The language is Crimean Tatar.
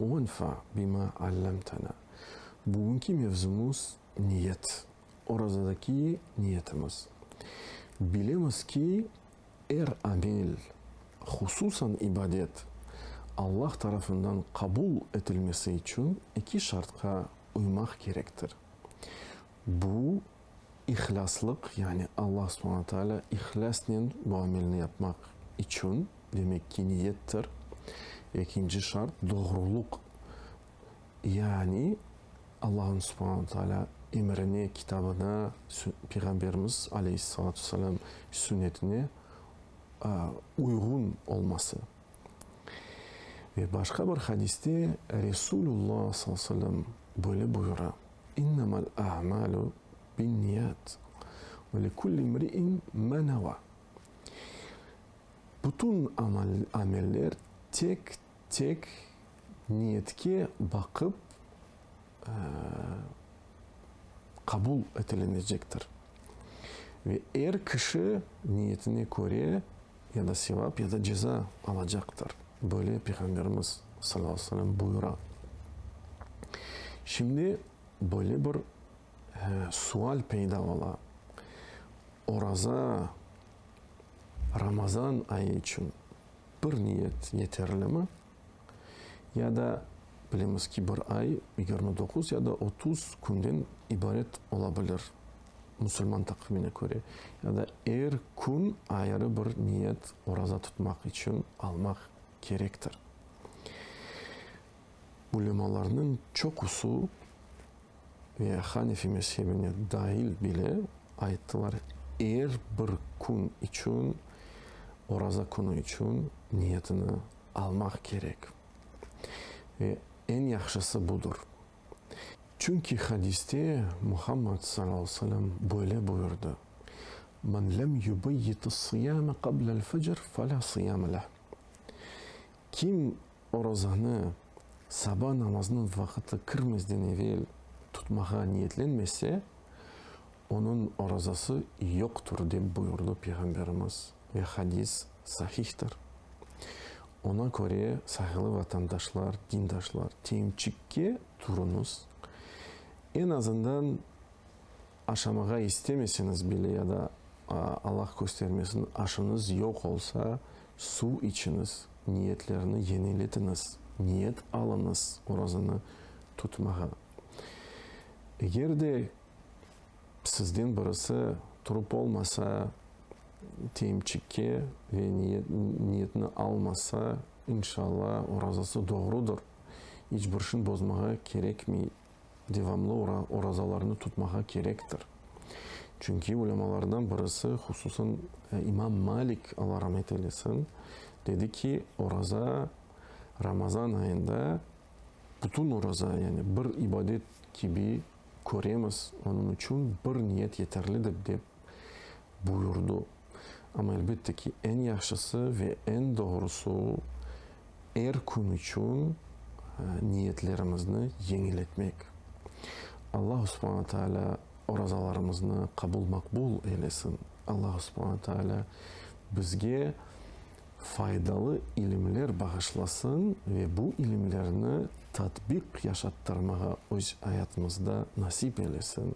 Uenfa bima allemtena. Bugünki mevzumız, niyet. Orazadaki niyetimiz. Bilemiz ki, er amel, hususan ibadet, Allah tarafından qabul etilmesi içün eki şartqa uymaq kerektir. Bu. İhlaslıq, yani Allah subhana taala ihlâsnen bu amelni yapmaq içün, demek ki, niyettir, ekinci şart, doğruluq, yani Allahın subhana taala emrine, kitabına, Peyğamberimiz aleyhissalâtu vesselâm sünnetine uyğun olması. Ve başqa bir hadiste Resulullo sallallahu aleyhi ve sellem böyle buyura, İnnemel a'malu binniyat ve li kulli imri'in ma neva, Bütün ameller tek tek niyetke baqıp qabul etilinecektir ve er kişi niyetine köre ya da sevap, ya da ceza alacaqtır. Böyle Peyğamberimiz sallallahu aleyhi ve sellem buyura. Şimdi böyle bir sual peyda ola, oraza, Ramazan ayı içün bir niyet yeterlimi? Ya da, bilemiz ki, bir ay yigirmi doquz ya da otuz künden ibaret ola bilir, musulman taqvimine köre. Ya da er kün ayrı bir niyet, oraza tutmaq içün, almaq kerektir. Ulemalarnıñ çoqusı, ve Hanefi mezhebine dail bile ayttılar, er bir kün içün, oraza künü içün niyetini almaq kerek ve eñ yahşısı budır. Çünki hadiste Muhammad sal aleyh ve selem böyle buyurdı, Men lem yubeyyit-is-sıyame qablel-fecr, fe la sıyame leh, Kim Orazanı saba namazınıñ vaqıtı kirmezden evel tutmağa niyetlenmese, onıñ orazası yoqtur, dep buyurdı Peyğamberimiz ve hadis sahihtir. Oña köre, saygılı vatandaşlar, dindaşlar, temçikke turuñız, eñ azından Aşamağa istemeseniz bile ya da, Allah köstermesin, aşınız yoq olsa, suv içiñiz, niyetlerni yeniletiñiz, niyet alıñız orazanı tutmağa. Eger de sizden birisi turıp olmasa, teyimçikke ve niyetni almasa, inşalla, orazası doğrudır, iç bir şeyni bozmağa kerekmey, devamlı orazalarnı tutmağa kerektir. Çünki ulâmalardan birisi, hususan İmam Malik, Alla ramet eylesin, dedi ki, oraza Ramazan ayında bütün oraza, yani bir ibadet kibi köremiz, onıñ içün bir niyet yeterlidir, dep buyurdı. Amma elbette ki, eñ yahşısı ve eñ doğrusı o, er kün içün niyetlerimizni yeñiletmek. Alla subhana taalâ orazalarımıznı qabul-maqbul eylesin. Alla subhana taalâ bizge faydalı ilimler bağışlasın ve bu ilimlerni tatbiq yaşattırmağa öz ayatımızda nasip eylesin.